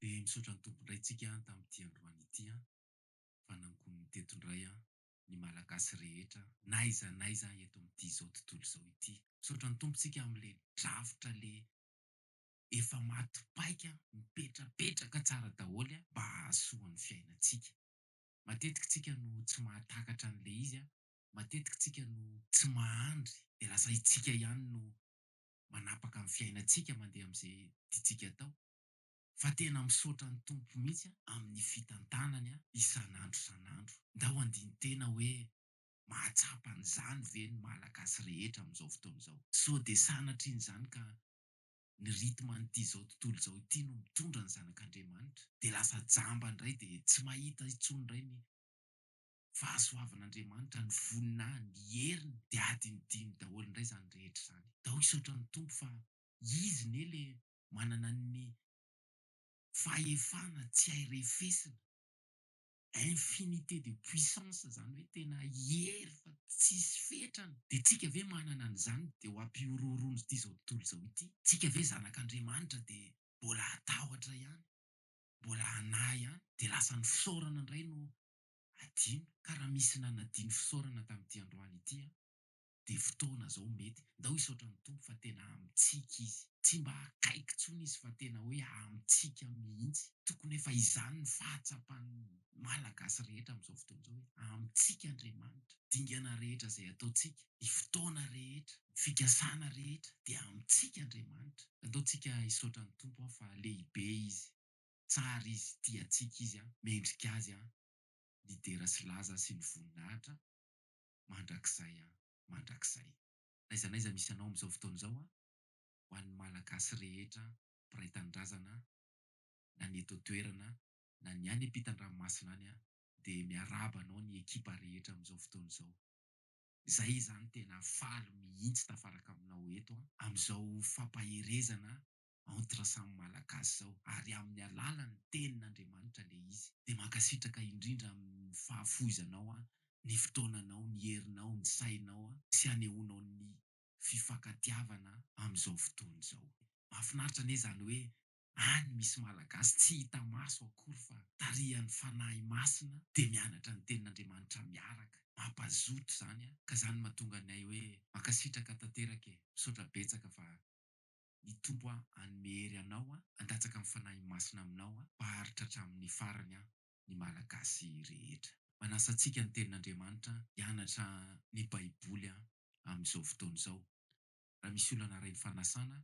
Dia misaotra ny Tompo indray tsika tamin'ity androany ity an! Fa nankoniny teto indray an! Ny Malagasy rehetra n'aiza n'aiza an! Eto amin'ity izao tontolo izao ity! Misaotra ny Tompo tsika amin'ilay drafitra le efa maty paika an! Mipetrapetraka tsara daholo an! Mba hahasoa ny fiainantsika! Matetika tsika no tsy mahatakatra an'ilay izy an! Matetika tsika no tsy mahandry dia lasa itsika ihany no manapaka ny fiainantsika mandeha amin'izay tiantsika atao! Fa tena misaotra ny Tompo mihitsy a amin'ny fitantanany a isan'andro isan'andro. Ndao handini-tena hoe mahatsapa an'izany ve ny Malagasy rehetra amin'izao fotoana izao. Sao dia sanatria an'izany ka ny rythme an'ity izao tontolo izao ity no mitondra ny zanak'Andriamanitra dia lasa jamba indray dia tsy mahita intsony indray ny fahasoavan'Andriamanitra, ny voninahiny, ny heriny dia adinodino daholo indray izany rehetra izany. Ndao hisaotra ny Tompo fa Izy ne le manana ny fahefana tsy hay refesina, infinité de puissance zany hoe tena hery fa tsisy fetrany, de tsika ve manana an'izany de ho ampihorohoroan'zty zao tontolo zao ity? Tsika ve zanak'Andriamanitra de mbola hatahotra ihany, mbola hanahy ihany, de lasa ny fisaorana ndray no adino, ka raha misy nanadino fisaorana tam'ity androany ity an! dia fotoana zao mety, ndao hisaotra ny Tompo fa tena amintsika izy, tsy mba akaiky tsony izy fa tena hoe amintsika mihintsy, tokony efa izany ny fahatsapan'ny Malagasy rehetra amin'izao fotoana izao hoe amintsika Andriamanitra, dingana rehetra izay ataontsika, ny fotoana rehetra, ny fikasana rehetra dia amintsika Andriamanitra, ndao tsika hisaotra ny Tompo an fa lehibe izy, tsara izy, tia antsika izy an, mendrika azy an, nidera sy laza sy nivoninahitra an. mandrakizay an mandrakizay. N'aiza n'aiza misy anao amin'izao fotoana izao an, ho an'ny Malagasy rehetra mpiray tanindrazana na ny eto an-toerana na ny any ampitan-dranomasina any an, dia miarahaba anao ny ekipa rehetra amin'izao fotoana izao. Izahay izany tena faly mihitsy tafaraka aminao eto an, amin'izao fampaherezana entre samy malagasy zao ary amin'ny alalan'ny tenin'Andriamanitra le izy de mankasitraka indrindra amin'ny fahafoizanao aho ny fotoananao ny herinao ny sainao sy anehoanao ny fifankatiavana amin'izao fotoana izao mahafinaritra anie zany hoe any misy malagasy tsy hita maso akory fa tarihan'ny fanahy masina de mianatra ny tenin'Andriamanitra miaraka mampazoto zany ka zany mahatonga ny ahy hoe mankasitraka tanteraka e misaotra betsaka fa Ny Tompo aho hanome hery anao aho handatsaka ny Fanahy Masina aminao aho mba haharitra hatramin'ny farany aho ny Malagasy rehetra. Manasa antsika ny Tenin'Andriamanitra hianatra ny Baiboly aho amin'izao fotoana izao. Raha misy olona narahin'ny fanasana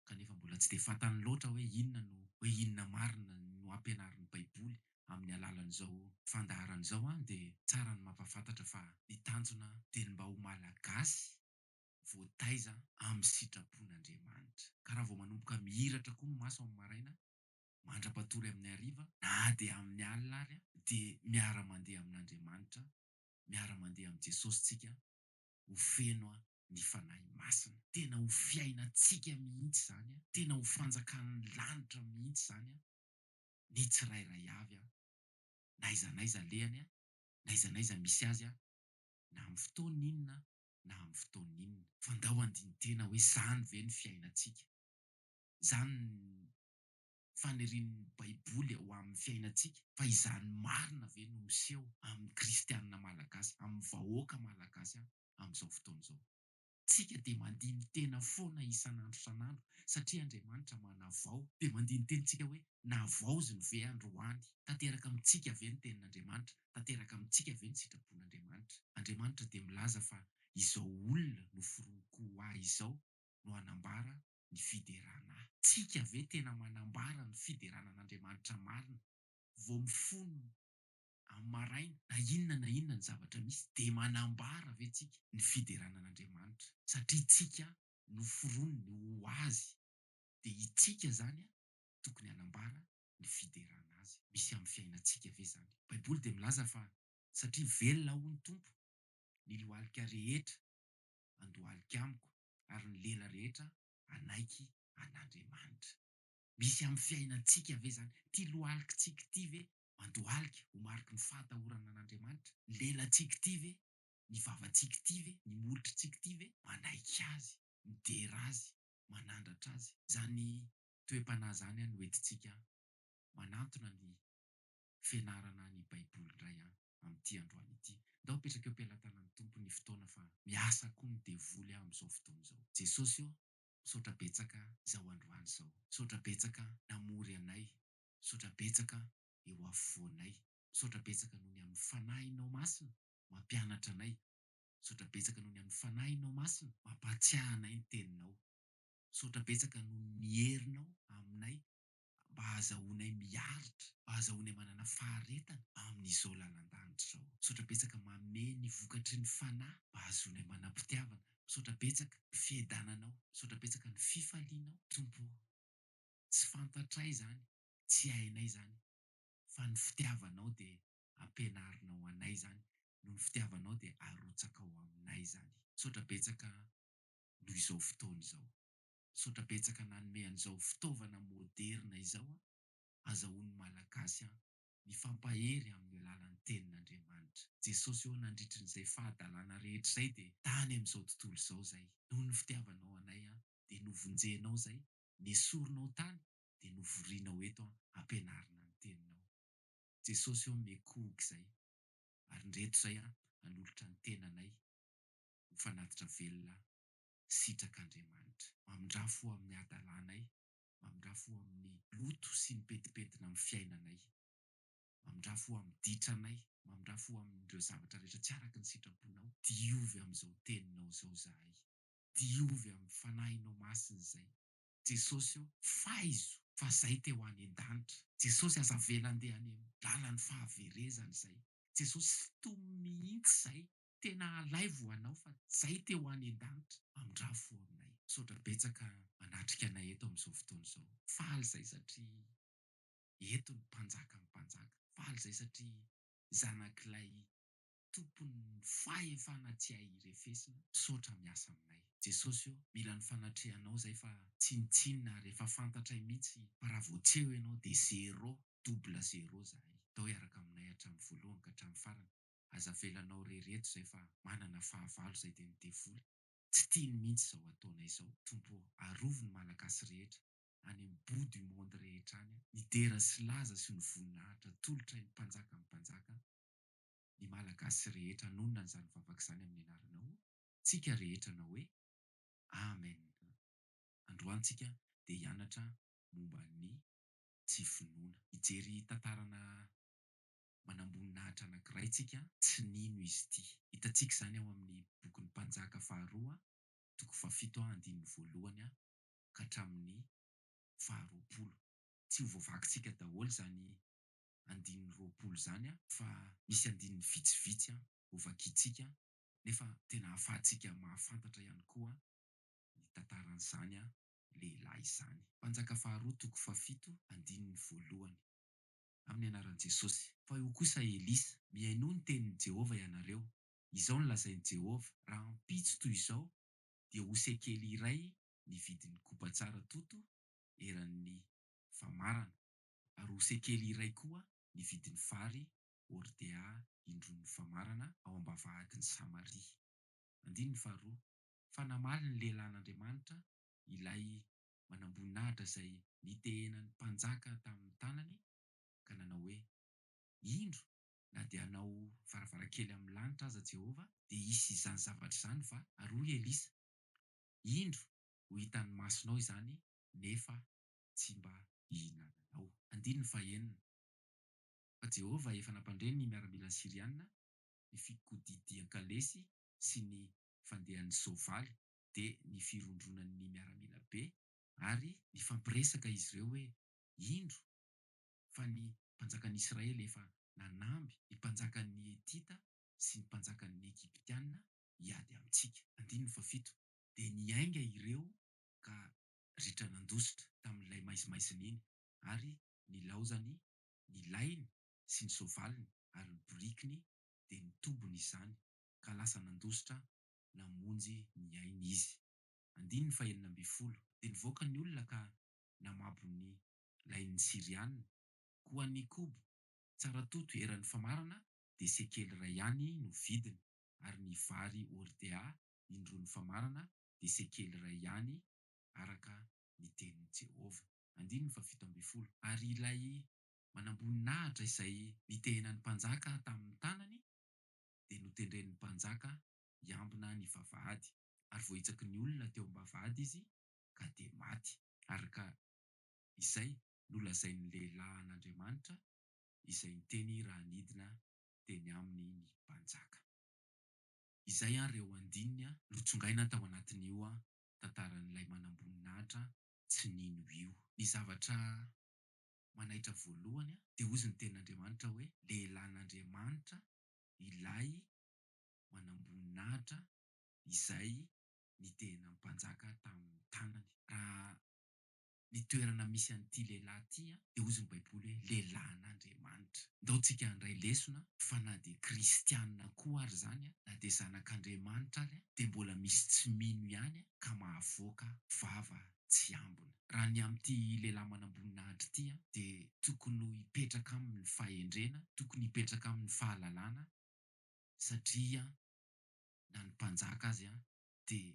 kanefa mbola tsy dia fantany loatra hoe inona no hoe inona marina no ampianarin'ny Baiboly amin'ny alalan'izao fandaharana izao aho dia tsara ny mampahafantatra fa ny tanjona dia ny mba ho Malagasy voataiza amin'ny sitrapon'Andriamanitra. Ka raha vao manomboka mihiratra koa ny maso amin'ny maraina, mandra-patory amin'ny hariva, na dia amin'ny alina ary, dia miara-mandeha amin'Andriamanitra, miara-mandeha amin'i Jesosy tsika, ho feno ny Fanahy Masina. Tena ho fiainantsika mihitsy izany, tena ho fanjakan'ny lanitra mihitsy izany, ny tsirairay avy, na aiza n'aiza alehany, na aiza n'aiza misy azy, na amin'ny fotoana inona na amin'ny fotoana inona. Fa ndao handini-tena hoe izany ve ny fiainantsika? Izany ny fanirian'ny Baiboly ho amin'ny fiainantsika? Fa izany marina ve no miseho amin'ny Kristianina malagasy, amin'ny vahoaka malagasy aho amin'izao fotoana izao? Tsika dia mandini-tena foana isan'andro isan'andro satria Andriamanitra manavao. Dia mandini-tena tsika hoe, navaoziny ve androany? Tanteraka amintsika ve ny tenin'Andriamanitra? tanteraka amintsika ve ny sitrapon'Andriamanitra? Andriamanitra dia milaza fa izao olona noforoniko ho Ahy izao no hanambara ny fiderana Ahy. Tsika ve tena manambara ny fiderana an'Andriamanitra marina vao mifono amin'ny maraina? Na inona na inona ny zavatra misy dia manambara ve tsika ny fiderana an'Andriamanitra satria tsika noforoniny ho Azy? Dia itsika izany tokony hanambara ny fiderana azy. Misy amin'ny fiainantsika ve izany? Baiboly dia milaza fa satria velona hoy ny Tompo, ny lohalika rehetra handohalika amiko ary ny lela rehetra hanaiky an'Andriamanitra. Misy amin'ny fiainantsika ve izany? Ity lohalikitsika ity ve mandohalika ho mariky ny fahatahorana an'Andriamanitra? Ny lelantsika ity ve, ny vavantsika ity ve, ny molotritsika ity ve manaiky azy, midera azy, manandratra azy? Izany toe-panahy zany an hoentintsika manantona ny fianarana ny baiboly indray an amin'ity androany ity. Ndao apetraka eo am-pelatanan'ny Tompo ny fotoana fa miasa koa ny devoly an amin'izao fotoana izao. Jesosy o, misaotra betsaka izao androany izao. Misaotra betsaka namory anay. Misaotra betsaka eo afovoanay. Misaotra betsaka noho ny amin'ny Fanahinao Masina mampianatra anay. Misaotra betsaka noho ny amin'ny Fanahinao Masina mampahatsiahy anay ny Teninao. Misaotra betsaka noho ny herinao aminay mba hahazahoanay miaritra, mba hahazahoanay manana faharetana amin'izao lalan-danitra izao. Misaotra betsaka Mame ny vokatry ny Fanahy mba hahazoanay manam-pitiavana. Misaotra betsaka ny fiadananao. Misaotra betsaka ny fifalianao Tompo o. Tsy fantatray izany, tsy hainay izany fa ny fitiavanao dia ampianarinao anay izany, noho ny fitiavanao dia arotsakao aminay izany. Misaotra betsaka noho izao fotoana izao. Misaotra betsaka nanome an'izao fitaovana moderina izao an! Azahoan'ny Malagasy an! Mifampahery amin'ny alalan'ny Tenin'Andriamanitra. Jesosy ô nandritry n'izay fahadalana rehetra izay dia tany amin'izao tontolo izao izay. Noho ny fitiavanao anay an! Dia novonjenao izay. Nesorinao tany dia novorianao eto an! Ampianarina ny Teninao. Jesosy ô miekohoka izay. Ary ndreto izay an! Hanolotra ny tenanay. ho fanatitra velona sitrak'Andriamanitra. Mamindrà fo amin'ny hadalànay, mamindrà fo amin'ny loto sy ny pentimpentina amin'ny fiainanay, mamindrà fo amin'ny ditranay, mamindrà fo amin'ireo zavatra rehetra tsy araka ny sitraponao. Diovy amin'izao teninao izao izahay, diovy amin'ny Fanahinao Masina izay. Jesosy ô, faizo fa izay te ho any an-danitra. Jesosy, aza avela handeha any amin'ny lalan'ny fahaverezana izay. Jesosy, sintomy mihitsy izay tena alaivo ho anao fa zay te ho any an-danitra amindravo fo aminay. Misaotra betsaka manatrika anay eto amin'izao fotoana izao. Faly izay satria eto ny Mpanjakan'ny mpanjaka. Faly izay satria zanak'ilay Tompon'ny fahefana tsy hay irefesina. Misaotra miasa aminay. Jesosy o, mila ny fanatrehanao izay fa tsinontsinona ary efa fantatray mihitsy fa raha vao tsy eo ianao dia zero, double zero izahay. Atao hiaraka aminay hatramin'ny voalohany ka hatramin'ny farany. aza avelanao re reto zay fa manana fahavalo zay de ny devoly tsy tiany mintsy zao ataonay zao tompo ô arovy ny malagasy rehetra any am bout du monde rehetra any a ny dera sy laza sy ny voninahitra atolotray ny mpanjaka ny mpanjaka ny malagasy rehetra anonona an'izany vavaka izany amin'ny anaranao tsika rehetra anao hoe amen androany tsika de hianatra momba ny tsy finoana hijery tantarana manamboninahitra anankiray tsika tsy nino izy ity. Hitantsika izany ao amin'ny bokin'ny Mpanjaka faharoa toko fahafito andininy voalohany ka hatramin'ny faharoapolo. Tsy ho voavakintsika daholo izany andininy roapolo izany fa misy andininy vitsivitsy ho vakintsika nefa tena hahafahantsika mahafantatra ihany koa ny tantaran'izany lehilahy izany. Mpanjaka faharoa toko fahafito andininy voalohany. amin'ny anaran'i Jesosy. Fa io kosa Elisa. Mihainoa ny tenin'i Jehovah ianareo. Izao no lazain'i Jehovah, Rahampitso toy izao dia ho sekely iray ny vidin'ny koba tsara toto eran'ny famarana, ary ho sekely iray koa ny vidin'ny vary hordea indroan'ny famarana ao am-bavahadin'i Samaria. Andininy faharoa, Fa namaly ny lehilahin'Andriamanitra ilay manamboninahitra izay nitehenan'ny mpanjaka tamin'ny tanany ka nanao hoe, Indro, na dia hanao varavarankely amin'ny lanitra aza Jehovah, dia hisy izany zavatra izany va? Ary hoy Elisa, Indro, ho hitan'ny masonao izany, nefa tsy mba hihinananao. Andininy fahenina. Fa Jehovah efa nampandre ny miaramilany Syriana, ny fikodidian-kalesy sy ny fandehan'ny soavaly, dia ny firondronan'ny miaramila be ary nifampiresaka izy ireo hoe, Indro fa ny mpanjakan'Israely efa nanamby ny mpanjakan'ny Hetita sy ny mpanjakan'ny Egyptiana hiady amintsika. Andininy fahafito. Dia niainga ireo ka ritra nandositra tamin'ilay maizimaizina iny, ary nilaozany ny lahiny sy ny soavaliny ary ny borikiny dia nitobony izany, ka lasa nandositra namonjy ny ainy izy. Andininy fahenina ambin'ny folo, Dia nivoaka ny olona ka namabo ny lain'ny Syriana, koa ny koba, tsara toto eran'ny famarana, dia sekely iray ihany no vidiny, ary ny vary hordea indroan'ny famarana dia sekely iray ihany, araka ny tenin'i Jehovah. Andininy fahafito ambin'ny folo, Ary ilay manamboninahitra izay nitehenan'ny mpanjaka tamin'ny tanany, dia notendren'ny mpanjaka hiambina ny vavahady, ary voahitsaky ny olona teo am-bavahady izy ka dia maty, araka izay nolazain'ny lehilahy an'Andriamanitra, izay niteny raha nidina teny aminy ny mpanjaka. Izay àry ireo andininy notsongaina tao anatin'io tantaran'ilay manamboninahitra tsy nino io. Ny zavatra manaitra voalohany dia hozy ny tenin'Andriamanitra hoe, Lehilahin'Andriamanitra Ilay manamboninahitra izay nidehina ny mpanjaka tamin'ny tanany. Raha ny toerana misy an'ity lehilahy ity dia hoy ny Baiboly hoe lehilahin'Andriamanitra. Ndao tsika handray lesona fa na dia kristianina koa ary izany na dia zanak'Andriamanitra ary dia mbola misy tsy mino ihany ka mahavoaka vava tsy ambina. Raha ny amin'ity lehilahy manamboninahitra ity dia tokony ho hipetraka aminy ny fahendrena, tokony hipetraka aminy ny fahalalana satria na ny mpanjaka azy dia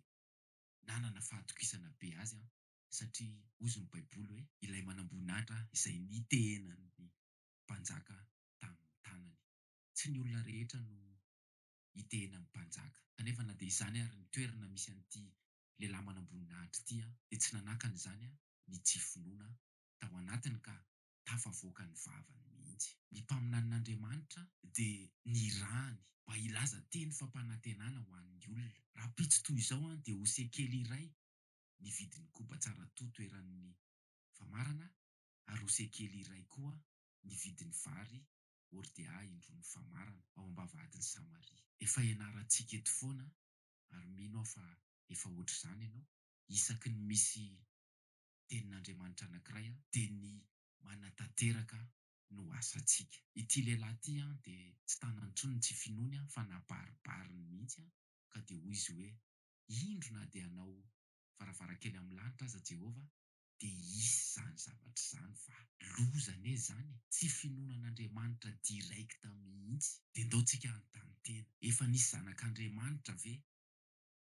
nanana fahatokisana be azy satria hozy ny baiboly hoe ilay manamboninahitra izay nitehena ny mpanjaka tamin'ny tanany. Tsy ny olona rehetra no hitehena ny mpanjaka kanefa na dia izany ary ny toerana misy an'ity lehilahy manamboninahitra ity an, dia tsy nanakana izany an ny tsy finoana tao anatiny ka tafavoaka ny vavany mihitsy. Ny mpaminanin'Andriamanitra dia nirahany mba hilaza teny fampanantenana ho an'ny olona. Rahampitso toy izao an dia ho sekely iray ny vidin'ny koba tsara to toeran'ny famarana ary ho sekely iray koa ny vidin'ny vary hordea indroan'ny famarana ao ambavahatin'i Samaria. Efa ianarantsika eto foana Ary mino aho fa efa ohatr'izany ianao, isaky ny misy Tenin'Andriamanitra anankiray dia ny manatanteraka no asantsika. Ity lehilahy ity dia tsy tana intsony ny tsy finoany fa nabaribariny mihitsy ka dia hoy izy hoe, Indro na dia hanao varavarankely amin'ny lanitra aza Jehovah de hisy izany zavatra izany fa loza anie izany e! Tsy finoana an'Andriamanitra direct mihitsy. De ndao tsika hanontany tena, efa nisy zanak'Andriamanitra ve?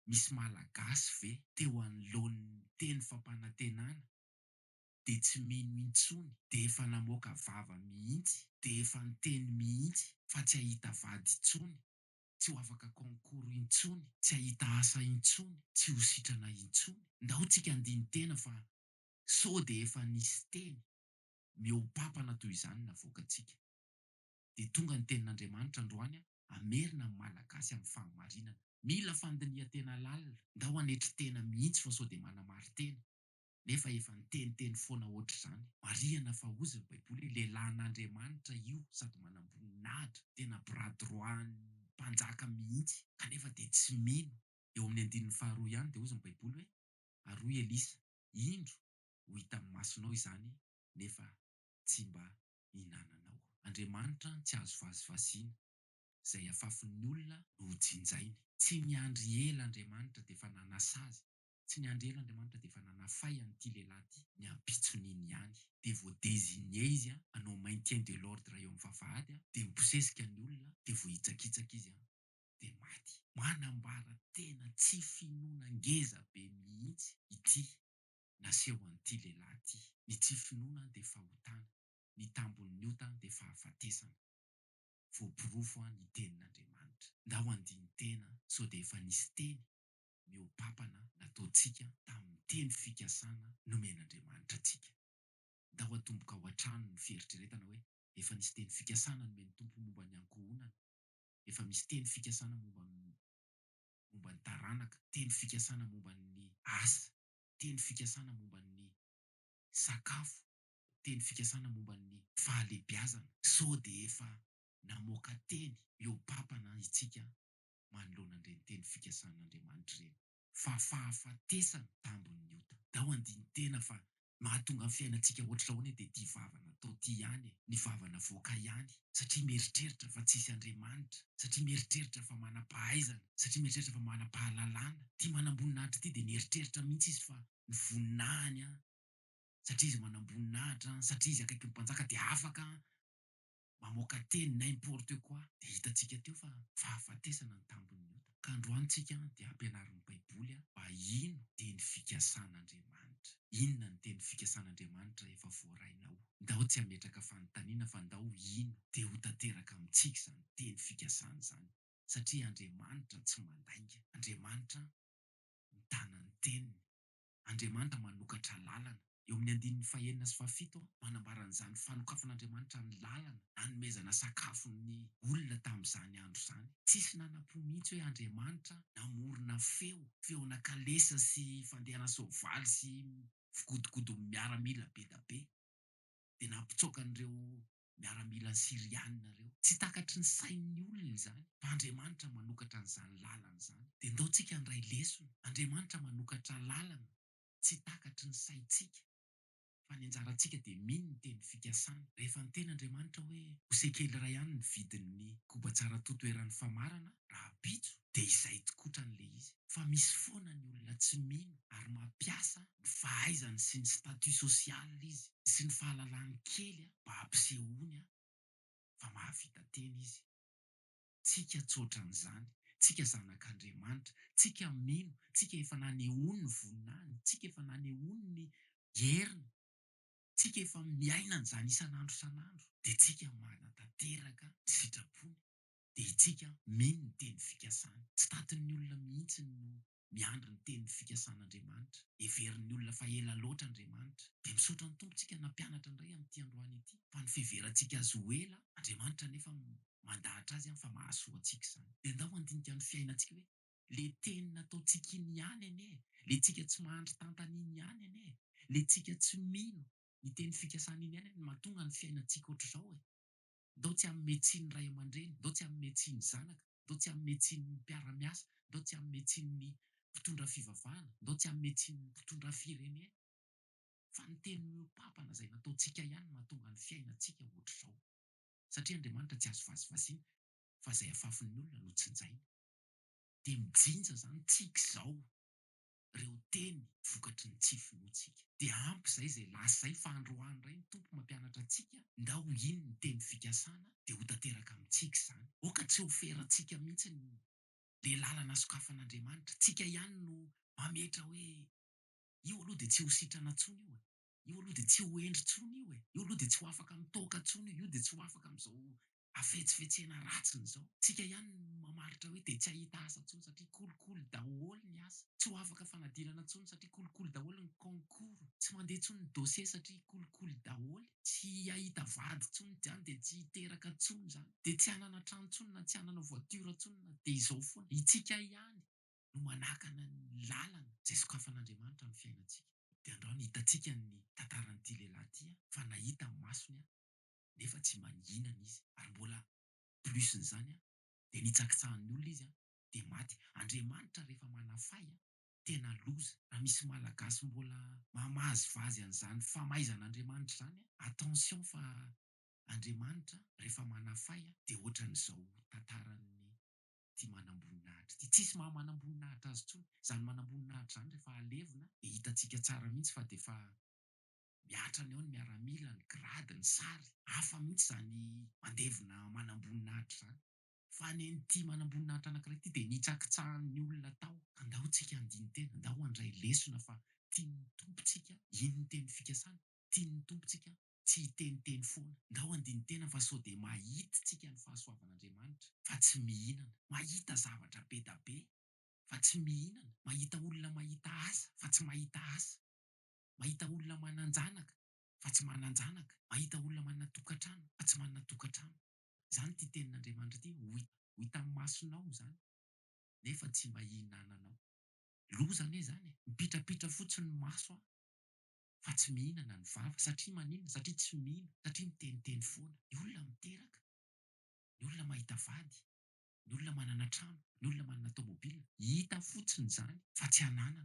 Misy Malagasy ve teo anoloan'ny teny fampanantenana de tsy mino intsony de efa namoaka vava mihitsy de efa niteny mihitsy fa tsy hahita vady intsony? tsy ho afaka concours intsony, tsy hahita asa intsony, tsy ho sitrana intsony. Ndao tsika handini-tena fa sao dia efa nisy teny mihoa-pampana toy izany navoakantsika. Dia tonga ny tenin'Andriamanitra androany hamerina ny Malagasy amin'ny fahamarinana. Mila fandinihan-tena lalina, ndao hanetry tena mihitsy fa sao dia manamari-tena. nefa efa niteniteny foana hoatr'izany. Marihana fa hozy ny baiboly hoe lehilahin'Andriamanitra io sady manamboninahitra, tena bras droit-n'ny mpanjaka mihitsy, kanefa dia tsy mino. Eo amin'ny andininy faharoa ihany dia hozy ny baiboly hoe, ary hoy Elisa, indro, ho hitan'ny masonao izany nefa tsy mba hinananao. Andriamanitra tsy azo vazivaziana, izay afafin'ny olona no hojinjainy. Tsy niandry ela Andriamanitra dia efa nanasazy Tsy ny anjely Andriamanitra dia efa nanafay an'ity lehilahy ity. Ny ampitson'iny ihany dia vao designer izy hanao maintien de l'ordre eo amin'ny vavahady dia mibosesika ny olona dia vao hitsakitsaka izy dia maty. Manambara tena tsy finoana ngeza be mihitsy ity naseho an'ity lehilahy ity. Ny tsy finoana dia fahotana, ny tambin'ny ota dia fahafatesana. Voaporofo ny tenin'Andriamanitra. Ndao handini-tena sao dia efa nisy teny ny ho papana nataontsika tamin'ny teny fikasana nomen'Andriamanitra antsika. Ndao hatomboka ao an-trano ny fieritreretana hoe efa nisy teny fikasana nomen'ny Tompo momba ny ankohonana, efa misy teny fikasana momba ny momba ny taranaka, teny fikasana momba ny asa, teny fikasana momba ny sakafo, teny fikasana momba ny fahalehibiazana. Sao dia efa namoaka teny mihoa-papana isika manoloana an'ireny teny fikasan'Andriamanitra ireny. Fa fahafatesana tambin'ny ota. Dao andini-tena fa mahatonga ny fiainantsika hoatr'izao anie dia ity vava natao ity ihany e! Ny vava navoaka ihany, satria mieritreritra fa tsisy Andriamanitra, satria mieritreritra fa manam-pahaizana, satria mieritreritra fa manam-pahalalana. Ity manamboninahitra ity dia nieritreritra mihitsy izy fa ny voninahiny an! satria izy manamboninahitra an! satria izy akaikin'ny mpanjaka dia afaka an! mamoaka teny n'importe quoi dia hitantsika teo fa fahafatesana ny tambin'ny ota ka androany tsika dia ampianarin'ny baiboly a mba hino teny fikasan'Andriamanitra inona ny teny fikasan'Andriamanitra efa voarainao ndao tsy hametraka fanontaniana fa ndao hino dia ho tanteraka amintsika izany teny fikasana izany satria Andriamanitra tsy mandainga Andriamanitra mitana ny teniny Andriamanitra manokatra lalana. Eo amin'ny andininy fahenina sy fahafito, manambara an'izany fanokafan'Andriamanitra ny lalana nanomezana sakafo ny olona tamin'izany andro izany. Tsisy nana-po mihitsy hoe Andriamanitra namorona feo, feona kalesa sy fandehana soavaly sy fikodokodon'ny miaramila be da be, dia nampitsoaka an'ireo miaramila Syriana ireo. Tsy takatry ny sain'ny olona izany fa Andriamanitra manokatra an'izany lalana izany. Dia ndao tsika handray lesona. Andriamanitra manokatra lalana tsy takatry ny saintsika fa ny anjarantsika dia mino ny teny fikasany. Rehefa niteny Andriamanitra hoe ho sekely iray ihany ny vidin'ny koba tsara toto eran'ny famarana rahampitso dia izay tokotran'ilay izy. Fa misy foana ny olona tsy mino ary mampiasa ny fahaizany sy ny statut social izy sy ny fahalalany kely mba hampisehoany fa mahavita tena izy. Tsika tsy ohatran'izany, tsika zanak'Andriamanitra, tsika mino, tsika efa nanehoany ny voninahiny, tsika efa nanehoany ny heriny, tsika efa miaina an'izany isan'andro isan'andro dia tsika manatanteraka ny sitrapony dia itsika mino ny teny fikasany. Tsy tatin'ny olona mihitsy no miandry ny tenin'ny fikasan'Andriamanitra. Heverin'ny olona fa ela loatra Andriamanitra. Dia misaotra ny Tompo tsika nampianatra indray amin'ity androany ity, fa ny fiheverantsika Azy ho ela, Andriamanitra anefa mandahatra azy fa mahasoa antsika izany. Dia ndao handinika ny fiainantsika hoe, le teny nataontsika iny ihany anie e, le tsika tsy mahandry tantana iny ihany anie e, le tsika tsy mino ny tenin'ny fikasana iny ihany anie no mahatonga ny fiainantsika ohatr'izao e. Ndao tsy hanome tsiny ray aman-dreny, ndao tsy hanome tsiny zanaka. ndao tsy hanome tsiny ny mpiara-miasa, ndao tsy hanome tsiny ny mpitondra fivavahana, ndao tsy hanome tsiny ny mpitondra firenena, fa ny teny miopapana izay nataontsika ihany no mahatonga ny fiainantsika ohatr'izao, satria Andriamanitra tsy azo vazivaziana, fa izay afafin'ny olona no tsinjaina, dia mijinja izany tsika izao. reo teny vokatry ny tsy finoantsika. Dia ampy izay izay lasa izay fa androany indray ny Tompo mampianatra antsika ndao ho ino ny teny fikasana dia ho tanteraka amintsika izany. Oka tsy ho ferantsika mihintsy ny le lalana sokafan'Andriamanitra. Tsika ihany no mametra hoe io aloha dia tsy ho sitrana tsony io e. Io aloha dia tsy ho hendry tsony io e! Io aloha dia tsy ho afaka mitoaka tsony io! Io dia tsy ho afaka amin'izao hafetsifetsena ratsiny izao! Tsika ihany no mamaritra hoe dia tsy hahita asa tsony satria kolikoly daholo ny asa! Tsy ho afaka fanadinana tsony satria kolikoly daholo ny concours! Tsy mandeha tsony ny dossier satria kolikoly daholo! Tsy hahita vady tsony izany dia tsy hiteraka tsony izany! Dia tsy hanana trano tsony na tsy hanana voiture tsony na dia izao foana! Itsika ihany! no manakana ny lalana izay sokafan'Andriamanitra amin'ny fiainantsika. Dia andrao ny hitantsika ny tantaran'ity lehilahy ity fa nahita amin'ny masony nefa tsy manginana izy ary mbola plus n'izany dia nitsakitsahan'ny olona izy dia maty. Andriamanitra rehefa manafay tena loza. Raha misy malagasy mbola mamazivazy an'izany famaizan'Andriamanitra izany attention fa Andriamanitra rehefa manafay dia ohatran'izao tantaran'ny ity manamboninahitra ity. Tsisy maha manamboninahitra azy intsony. Izany manamboninahitra izany rehefa alevina dia hitantsika tsara mihitsy fa dia efa mihatra any eo ny miaramila, ny grade, ny sary. Hafa mihitsy izany mandevona manamboninahitra izany. Fa ny an'ity manamboninahitra anankiray ity dia nitsakitsahan'ny olona tao. Ka ndao tsika handini-tena, ndao handray lesona fa tian'ny Tompo tsika iny ny teny fikasana, tian'ny Tompo tsika tsy hiteniteny foana. Ndao handini-tena fa sao dia mahit tsika ny fahasoavan'Andriamanitra fa tsy mihinana, mahita zavatra be da be fa tsy mihinana, mahita olona mahita asa fa tsy mahita asa, mahita olona manan-janaka fa tsy manan-janaka, mahita olona manana tokantrano fa tsy manana tokantrano. Izany ity tenin'Andriamanitra ity, ho ho hitan'ny masonao izany nefa tsy mba hihinananao. Loza anie izany e! Mipitrapitra fotsiny ny maso an! fa tsy mihinana ny vava satria maninona satria tsy mino satria miteniteny foana ny olona miteraka ny olona mahita vady ny olona manana trano ny olona manana tomobile hita fotsiny izany fa tsy ananana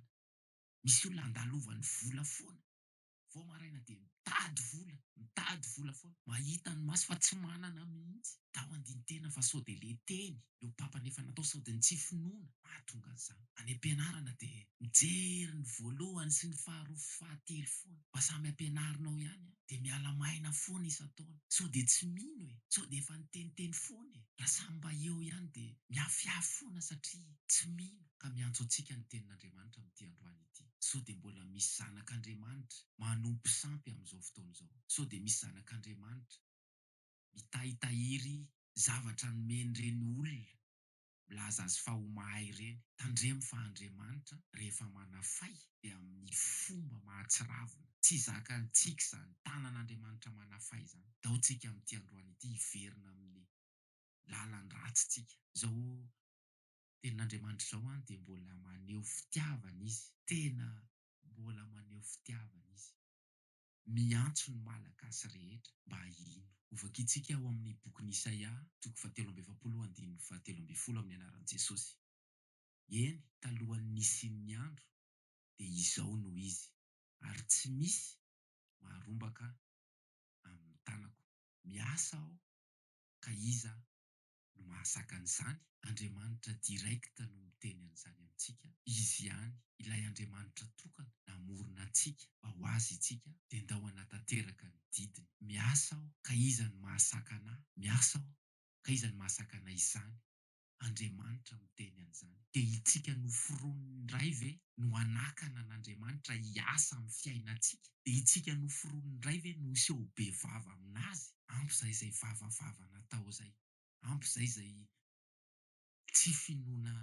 misy olona andalovany vola foana vao maraina dia mitady vola mitady vola foana mahita ny maso fa tsy manana mihitsy tao andintena fa sao dia le teny no papa nefa natao sody ny tsy finoana mahatonga an'izany. Any ampianarana dia mijery ny voalohany sy ny faharoa sy fahatelo foana mba samy ampianarinao ihany an! Dia miala maina foana isan-taona sao dia tsy mino e! Sao dia efa niteniteny foana e! Raha samy mba eo ihany dia mihafihafy foana satria tsy mino ka miantso antsika ny tenin'Andriamanitra amin'ity androany ity. Sao dia mbola misy zanak'Andriamanitra manompo sampy amin'izao fotoana izao? Sao dia misy zanak'Andriamanitra. mitahy tahiry zavatra nomeny ireny olona milaza azy fa ho mahay ireny. Tandremo fa Andriamanitra rehefa manafay dia amin'ny fomba mahatsiravina. Tsy zakantsika izany. Tanan'Andriamanitra manafay izany. Dao tsika amin'ity androany ity hiverina amin'ny lalan'ny ratsy tsika. Izao tenin'Andriamanitra izao an dia mbola maneho fitiavana izy. Tena mbola maneho fitiavana izy. Miantso ny Malagasy rehetra mba hino. Hovakintsika ao amin'ny bokin'i Isaia, toko fahatelo amby efapolo, andininy fahatelo ambin'ny folo amin'ny anaran'i Jesosy. Eny, talohan'ny nisian'ny andro, dia izao no izy, ary tsy misy maharombaka amin'ny tanako. Miasa aho, ka iza no mahazaka an'izany, Andriamanitra direct no miteny an'izany amintsika, Izy ihany, ilay Andriamanitra tokana namorona antsika mba ho Azy itsika, dia ndao hanatanteraka ny didiny, miasa aho ka iza no mahazaka anà, miasa aho ka iza no mahazaka anà izany, Andriamanitra miteny an'izany, dia itsika noforonin'ny Ray ve no hanakana an'Andriamanitra hiasa amin'ny fiainantsika? Dia itsika noforoniny indray ve no hiseho ho be vava amin'azy? Ampy izay izay vavavava natao izay. Ampy izay izay tsy finoana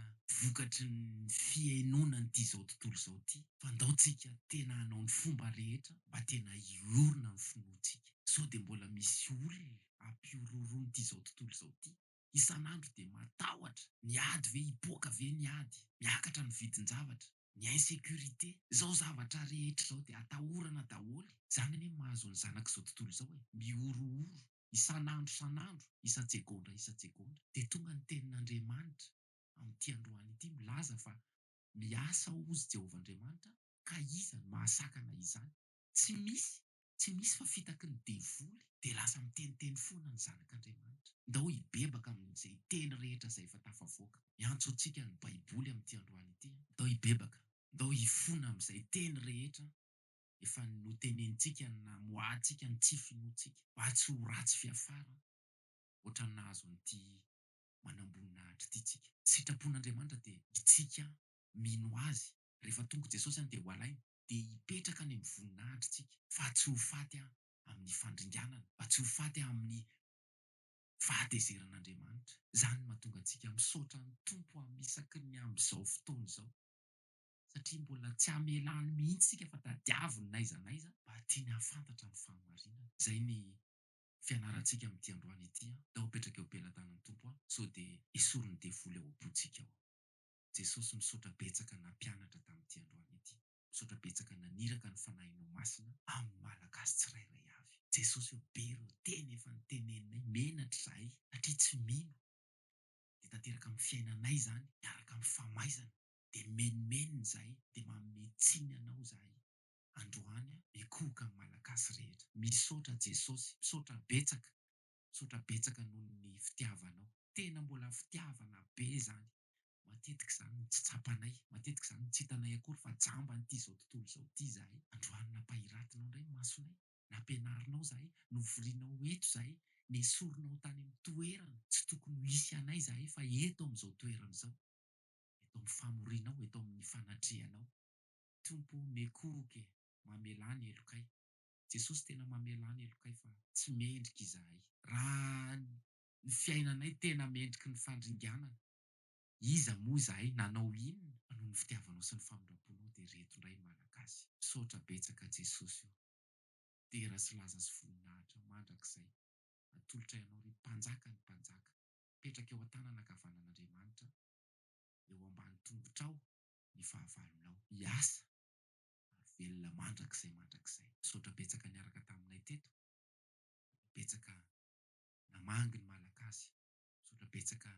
vokatry ny fihainoana an'ity izao tontolo izao ity. Fa ndao tsika tena hanao ny fomba rehetra mba tena hiorina ny finoantsika. Sao dia mbola misy olona hampihorohoroa an'ity izao tontolo izao ity. Isan'andro dia matahotra. Ny ady ve? Hipoaka ve ny ady? Miakatra ny vidin-javatra. ny insecurité, zao zavatra rehetra zao dia atahorana daholo e! Zany anie mahazo ny zanak'izao tontolo izao e! Mihorohoro isan'andro isan'andro, isan-tsegondra isan-tsegondra, dia tonga ny tenin'Andriamanitra amin'ity androany ity milaza fa miasa hozy Jehovah Andriamanitra, ka iza no mahasakana izany? Tsy misy, tsy misy fa fitaky ny devoly dia lasa miteniteny foana ny zanak'Andriamanitra. Ndao hibebaka amin'izay teny rehetra izay efa tafavoaka. Miantso antsika ny Baiboly amin'ity androany ity. Ndao hibebaka, ndao hifona amin'izay teny rehetra efa notenenintsika namoahantsika ny tsy finoantsika, mba tsy ho ratsy fiafara hoatran'ny nahazo an'ity manamboninahitra ity tsika. Ny sitrapon'Andriamanitra dia itsika mino Azy. Rehefa tonga i Jesosy any dia ho alainy. dia hipetraka any amin'ny voninahitritsika, fa tsy ho faty amin'ny fandringanana, fa tsy ho faty amin'ny fahatezeran'Andriamanitra. Izany no mahatonga antsika misaotra ny Tompo amin'ny isaky ny amin'izao fotoana izao, satria mbola tsy hamela any mihitsy isika fa tadiaviny n'aiza n'aiza, mba tiany hahafantatra ny fahamarinana. Izay ny fianarantsika amin'ity androany ity, Ndao apetraka eo am-pelatanan'ny Tompo aho, sao dia esorin'ny devoly ao am-pontsika ao. Jesosy misaotra betsaka nampianatra tamin'ity androany ity. Misaotra betsaka naniraka ny Fanahinao Masina amin'ny Malagasy tsirairay avy. Jesosy o, be ireo teny efa noteneninay menatra izahay satria tsy mino. Dia tanteraka amin'ny fiainanay izany miaraka amin'ny famaizana. Dia menomenona izahay dia manome tsiny Anao izahay. Androany aho mikohoka amin'ny Malagasy rehetra. Misaotra Jesosy. Misaotra betsaka. Misaotra betsaka noho ny fitiavanao. Tena mbola fitiavana be izany. Matetika izany no tsy tsapanay, matetika izany no tsy hitanay akory fa jamba an'ity izao tontolo izao ity izahay. Androany nampahiratinao indray ny masonay, nampianarinao izahay, novorianao eto izahay, nesorinao tany amin'ny toerana tsy tokony ho hisy anay izahay fa eto amin'izao toerana izao, eto amin'ny famorianao, eto amin'ny fanatrehanao. Tompo o, nekoroka e, mamelà ny helokay. Jesosy tena mamelà ny helokay fa tsy mendrika izahay. Raha ny fiainanay tena mendriky ny fandringanana, iza moa izahay, nanao inona, fa noho ny fitiavanao sy ny famindramponao dia reto indray ny Malagasy, misaotra betsaka Jesosy ô, dera sy laza sy voninahitra mandrakizay atolotray anao ry Mpanjaka ny Mpanjaka, mipetraka eo an-tanana ankavanan'Andriamanitra, eo ambany tongotrao ny fahavalonao, hiasa ary velona mandrakizay mandrakizay, misaotra betsaka niaraka taminay teto, ary betsaka namangy ny Malagasy, misaotra betsaka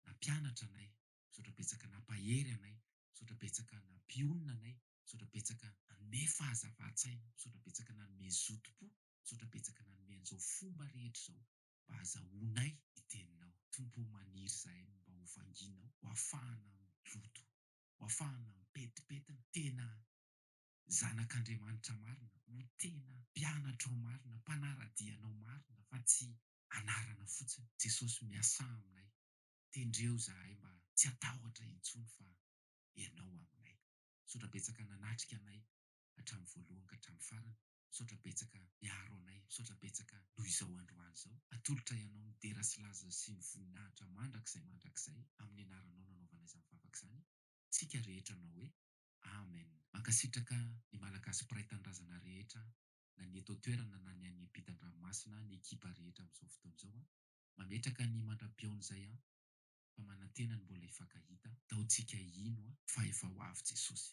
nampianatra anay, misaotra betsaka nampahery anay, misaotra betsaka nampionona anay, misaotra betsaka nanome fahazavan-tsaina, misaotra betsaka nanome zotom-po, misaotra betsaka nanome an'izao fomba rehetra izao mba hazahoanay ny Teninao. Tompo ô, maniry izahay ny mba hovanginao, ho afahana miloto, ho afahana mipetipetina, tena zanak'Andriamanitra marina, ho tena mpianatrao marina, mpanara-dianao marina fa tsy anarana fotsiny. Jesosy miasà aminay, tendreo zahay mba tsy hatahotra intsony fa Ianao aminay. Misaotra betsaka nanatrika anay hatramin'ny voalohany ka hatramin'ny farany. Misaotra betsaka miaro anay. Misaotra betsaka noho izao androany izao. Atolotray Anao ny dera sy laza sy ny voninahitra mandrakizay mandrakizay amin'ny anaranao nanaovanay izany vavaka izany tsika rehetra anao hoe Amen mankasitraka ny malagasy mpiray tanindrazana rehetra na ny eto an-toerana na ny any ampitan-dranomasina ny ekipa rehetra amin'izao fotoana izao an! mametraka ny mandra-pihaona izay an! fa manantena ny mbola hifankahita. Daontsika hino fa efa ho avy Jesosy.